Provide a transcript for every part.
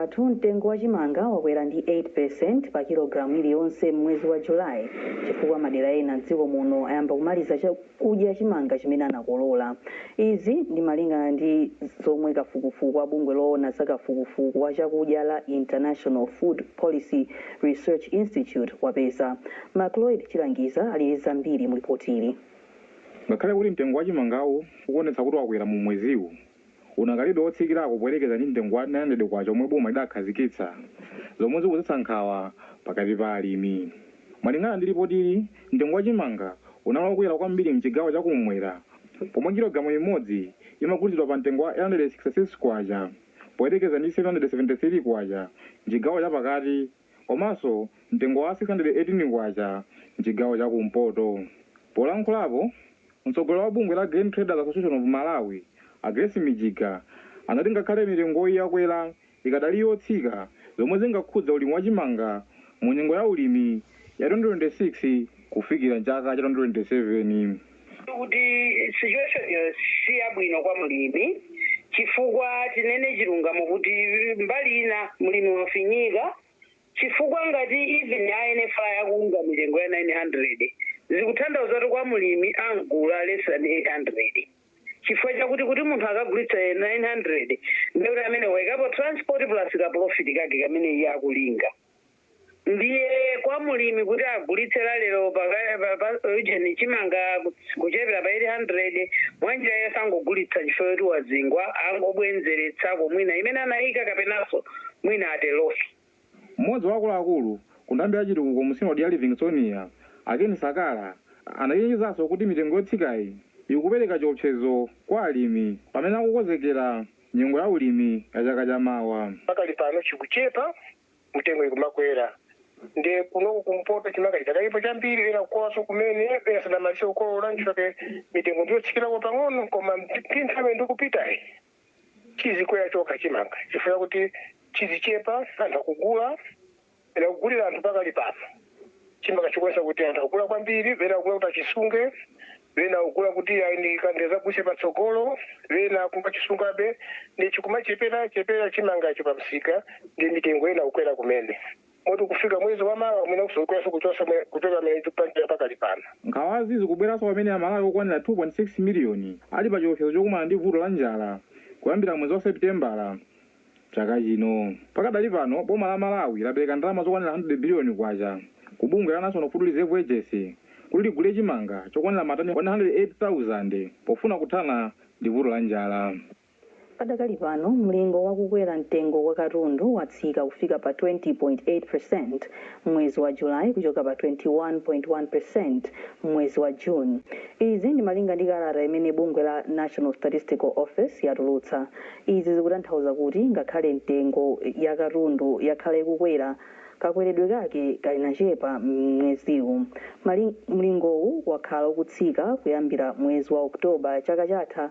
Athu, Mtengo wa chimanga wakwera ndi 8 percent pa kilogalamu iliyonse m'mwezi wa July chifukwa madera ena m'dziko muno ayamba kumaliza chakudya chimanga chimene anakolola. Izi ndi malingana ndi zomwe kafukufuku wa bungwe loona za kafukufuku wa chakudya la International Food Policy Research Institute wapeza. Macloyd Chilangiza ali ndi zambiri mu lipotili. Ngakhale kuti mtengo wa chimangawu ukuonetsa kuti wakwera mu mweziwu, unakalibe wotsikirako poyerekeza ndi mtengo wa K900 omwe boma lidakhazikitsa, zomwe zikudzetsa nkhawa pakati pa alimi. Malingana ndi lipotili, mtengo wa chimanga unali wokwera kwambiri m'chigawo cha kummwera pomwe kilogalamu imodzi imagulitsidwa pa mtengo wa K866 poyerekeza ndi K773 m'chigawo cha pakati komanso mtengo wa K618 m'chigawo cha kumpoto. Polankhulapo, Mtsogoleri wa bungwe la Grain Traders Association of Malawi, a Grace Mijiga, anati ngakhale mitengoyi yakwera, ikadali yotsika zomwe zingakhudze ulimi wa chimanga mu nyengo ya ulimi ya 2026 kufikira m'chaka cha 2027. kuti situation-yo siyabwino kwa mlimi chifukwa tinene chilungamo kuti mbali ina mlimi wafinyika chifukwa ngati even a NFRA akugula mitengo ya 900 zikutanthauza kuti kwa mlimi amgula less than 800 chifukwa chakuti kuti munthu akagulitsa 900 ndekuti amene waikapo transport plus ka profit kake kamene iye akulinga ndiye kwa mlimi kuti agulitse lero paka- pa- pa- ujeni chimanga ku- kuchepera pa 800 mwanjira yosangogulitsa chifukwa choti wazingwa angobwenzeretsako mwina imene anayika kapenanso mwina a loss. Mmodzi wa akuluakulu ku nthambi ya chitukuko mu sinodi ya Livingstonia, a Ken Sakala, anachenjezanso kuti mitengo yotsikayi ikupereka chiopsezo kwa alimi pamene akukonzekera nyengo ya ulimi ya chaka cha mawa. Pakali pano chikuchepa, mitengo ikumakwera nde kunoko kumpoto chimanga chidakalipo chambiri, ena kukololanso kumene, ena sanamalize kukolola nchifukwa chake mitengo ndiyotsikirako pang'ono koma ndi nthawi ikupitayi chizikwera chokha chimanga chifukwa kuti chizichepa anthu akugula ena kugulira anthu pakali pano chimanga chikuonesa kuti anthu akugula kwambiri ena akugula kuti achisunge ena akugula kuti adzagulitse patsogolo ena akumachisungabe nde chikumachepera chepera chimangacho pamsika nde mitengo yayamba kukwera kumene moti kufika mwezi wa mawa mwina ikwerenso kuchosa mwe- kuchoka mene ikupangira pakali pano nkhawazi zikubweranso pamene amalawi okwanira 2.6 miliyoni ali pa chiopsezo chokumana ndi vuto la njala kuyambira mwezi wa sepitembala chaka chino pakadali pano boma la malawi lapereka ndalama zokwanira 100 biliyoni kwacha ku bungwe la national food reserve agency kuti ligule chimanga chokwanira matani 108,000 pofuna kuthana ndi vuto la njala Padakali pano, mlingo wa kukwera mtengo wa katundu watsika kufika pa 20.8% m'mwezi wa July kuchoka pa 21.1% m'mwezi wa June. Izi ndi malinga ndi kalata imene bungwe la National Statistical Office yatulutsa. Izi zikutanthauza kuti ngakhale mitengo ya katundu yakhala ikukwera, kakweredwe kake kanachepa m'mweziwu. Mlingowu wakhala ukutsika kuyambira mwezi wa October chaka chatha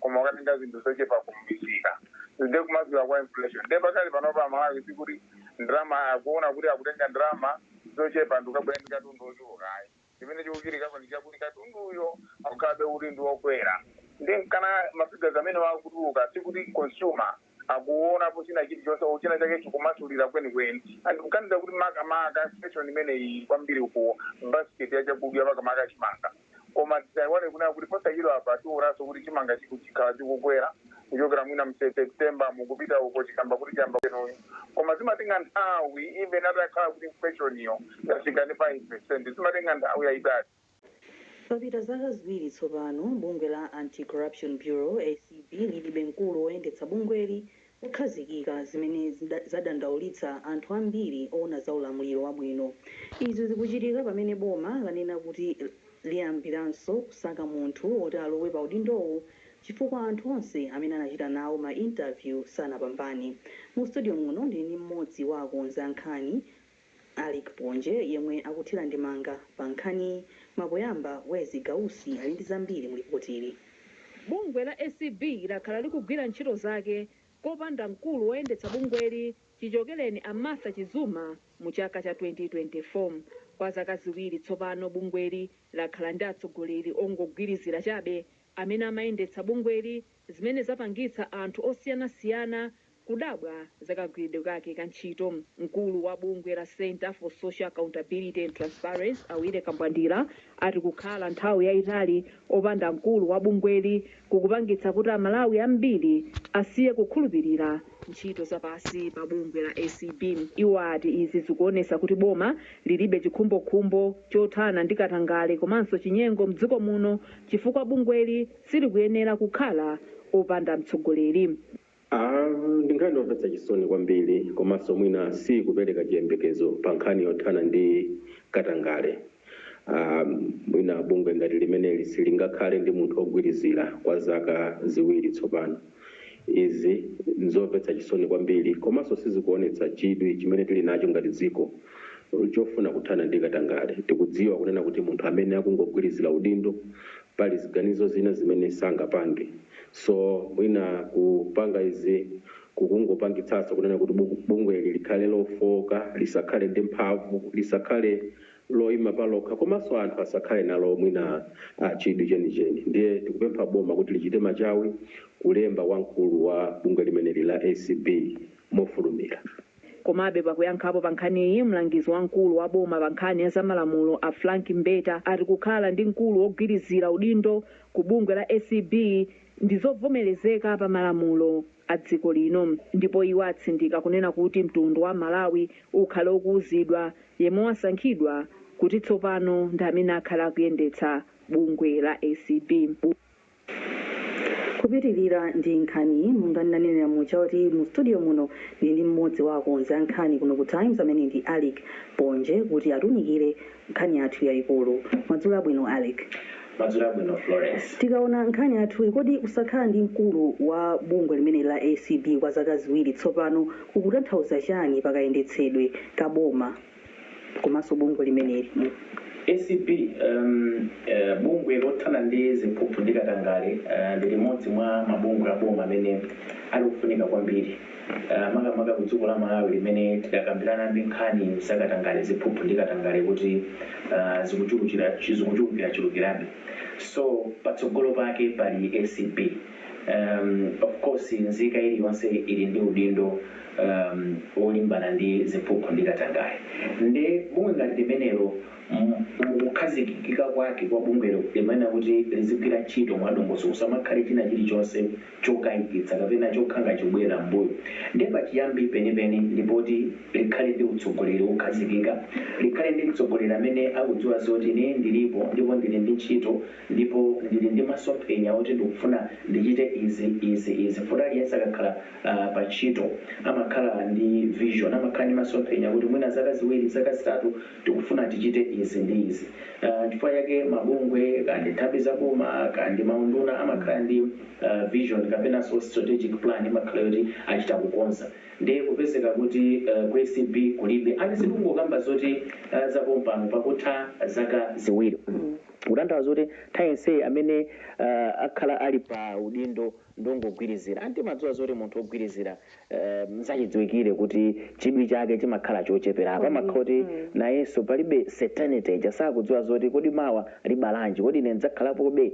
koma ukatenga zinthu zochepa kumisika nde kumasulira kwa inflation nde pakali panopa amalawi sikuti ndalama akuona kuti akutenga ndalama zochepa nkukabwera ndi katundu ochuluka ayi chimene chikuchitikako ndi chakuti katunduyo akukhalabe kuti ndi okwera nde nkana mafigazi amene akutuluka sikuti consumer akuonapo china chilichonse or china chake chikumasulira kwenikweni and ndikuganiza kuti makamaka inflation imeneyi kwambiri uku basket ya chakudya makamaka chimanga koma tisaiwale kunena kuti posachedwa apa tionanso kuti chimanga chiku- chikhala chikukwera kuchokera mwina mu september nkupita uko chikamba kuti chiyamba kwenuyo koma zimatenga nthawi even atakhala kuti inflation iyo yafika pa 5 percent zimatenga nthawi yayitali Papita zaka ziwiri tsopano bungwe la Anti-Corruption Bureau, acb, lilibe mkulu woyendetsa bungweli wokhazikika, zimene zadandaulitsa anthu ambiri oona za ulamuliro wabwino. Izi zikuchitika pamene boma lanena kuti liyambiranso kusaka munthu woti alowe pa udindowu chifukwa anthu onse amene anachita nawo ma interview sanapambane. Mu studio muno ndili ndi mmodzi wa akonzi a nkhani. Alick Ponje yemwe akuthira ndemanga pa nkhaniyi koma poyamba Wezzie Gausi ali ndi zambiri mu lipotili. Bungwe la acb lakhala likugwira ntchito zake kopanda mkulu woyendetsa bungweli chichokereni a Martha Chizuma mu chaka cha 2024. Kwa zaka ziwiri tsopano bungweli lakhala ndi atsogoleri ongogwirizira chabe amene amayendetsa bungweli zimene zapangitsa anthu osiyanasiyana kudabwa za kagwiridwe kake ka ntchito. Mkulu wa bungwe la Centre for Social Accountability and Transparency a Willy Kambwandira ati kukhala nthawi yaitali opanda mkulu wa bungweli kukupangitsa kuti aMalawi ambiri asiye kukhulupilira ntchito za pansi pa bungwe la acb. Iwo ati izi zikuonesa kuti boma lilibe chikhumbokhumbo chothana ndi katangale komanso chinyengo mdziko muno chifukwa bungweli silikuyenera kukhala opanda mtsogoleri. Aaa ndi nkhani yomvetsa chisoni kwambiri komanso mwina siikupereka chiyembekezo pa nkhani yothana ndi katangale. Aaa mwina bungwe ngati limeneli silingakhale ndi munthu ogwirizira kwa zaka ziwiri tsopano. Izi nzomvetsa chisoni kwambiri komanso sizikuonetsa chidwi chimene tili nacho ngati dziko chofuna kuthana ndi katangale. Tikudziwa kunena kuti munthu amene akungogwirizira udindo pali ziganizo zina zimene sangapange. So mwina kupanga izi kukungopangitsaso kunena kuti bungweli likhale lofooka, lisakhale ndi mphamvu, lisakhale loima palokha komaso anthu asakhale nalo mwina chidwi chenicheni. Ndiye tikupempha boma kuti lichite machawi kulemba wamkulu wa bungwe limeneli la acb mofulumira. Komabe, pakuyankhapo pa nkhaniyi, mlangizi wamkulu wa boma pa nkhani ya za malamulo a Frank Mbeta ati kukhala ndi mkulu wogwirizira udindo ku bungwe la acb ndi zovomerezeka pa malamulo a dziko lino ndipo iwo atsindika kunena kuti mtundu wa Malawi ukhale ukuuzidwa yemwe wasankhidwa kuti tsopano ndi amene akhale akuyendetsa bungwe la acb. Kupitilira ndi nkhaniyi, monga ndinanenera muja kuti mu studio muno ndili ndi mmodzi wa akonzi a nkhani kuno ku Times amene ndi Alick Ponje kuti atiunikire nkhani yathu yayikulu. Madzulo abwino Alick. Madzulo abwino Florence. Tikaona nkhani yathuyi, kodi kusakhala ndi mkulu wa bungwe limeneli la acb kwa zaka ziwiri tsopano kukutanthauza chani pa kayendetsedwe ka boma? komanso bungwe limeneli. Acb, um, uh, bungwe lothana ndi ziphuphu ndi katangale uh, ndi limodzi mwa mabungwe a boma amene ali ofunika kwambiri uh, makamaka ku dziko la Malawi limene tidakalimbana ndi nkhani za katangale ziphuphu ndi katangale kuti uh, zikuchulukira zikuchulukira chulukirabe so patsogolo pake pali acb Um, of course, nzika iliyonse ili ndi udindo um, wolimbana ndi ziphuphu ndi katangale. Nde bungwe ngati limenelo mu mu kukhazikikika kwake kwa bungwelo limayenera kuti lizigwira ntchito mwadongosolo, kusamakhale china chilichonse chokayikitsa kapena chokhala chikubwerera m'mbuyo. Nde pachiyambi penipeni ndi poti likhale ndi utsogoleri wokhazikika, likhale ndi mtsogoleri amene akudziwa zoti ine ndilipo ndipo ndili ndi ntchito, ndipo ndili ndi masomphenya oti ndikufuna ndichite izi, izi, izi. Futi aliyense akakhala pa ntchito amakhala ndi vision, amakhala ndi masomphenya kuti mwina zaka ziwiri, zaka zitatu tikufuna tichite izi ndi izi. Nchifukwa chake mabungwe, kaya ndi nthambi za boma, kaya ndi maunduna amakhala ndi vision kapenanso strategic plan imakhala yoti achita kukonza. Ndiye kupezeka kuti ku ACB kulibe, and sindikungokamba zoti zapompano pakutha zaka ziwiri. Kutanthauza zoti nthawi yonseyi amene akhala ali pa udindo ndi ongogwirizira. And timadziwa zoti munthu wogwirizira n'zachidziwikire kuti chidwi chake chimakhala chochepera. Apa amakhala kuti nayenso palibe certainty ija, sakudziwa zoti kodi mawa libalanji, kodi ine ndidzakhalapobe?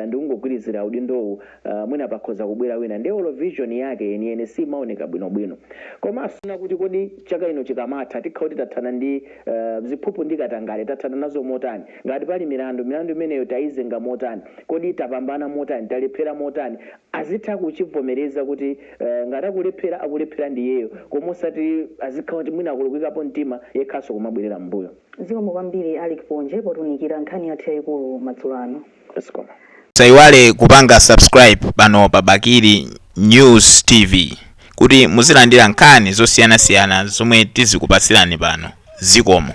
Ndikungogwirizira udindowu. ah, mwina pakhoza kubwera wina nde olo vision yake yeniyeni simaoneka bwinobwino komanso na kuti kodi chaka ino chikamatha tikhala kuti tathana ndi ah, ziphuphu ndi katangale tathana nazo motani ngati pali milandu milandu imeneyo tayizenga motani kodi tapambana motani talephera motani azitha kuchivomereza kuti ah, ngati akulephera akulephera ndi iyeyo koma osati azikhala kuti mwina akulukikapo mtima yekhanso kumabwerera m'mbuyo zikomo kwambiri alick ponje potunikira nkhani yathu yayikulu madzulo ano Musaiwale kupanga subscribe pano pa Bakili News TV kuti muzilandira nkhani zosiyanasiyana zomwe tizikupatsirani pano. Zikomo.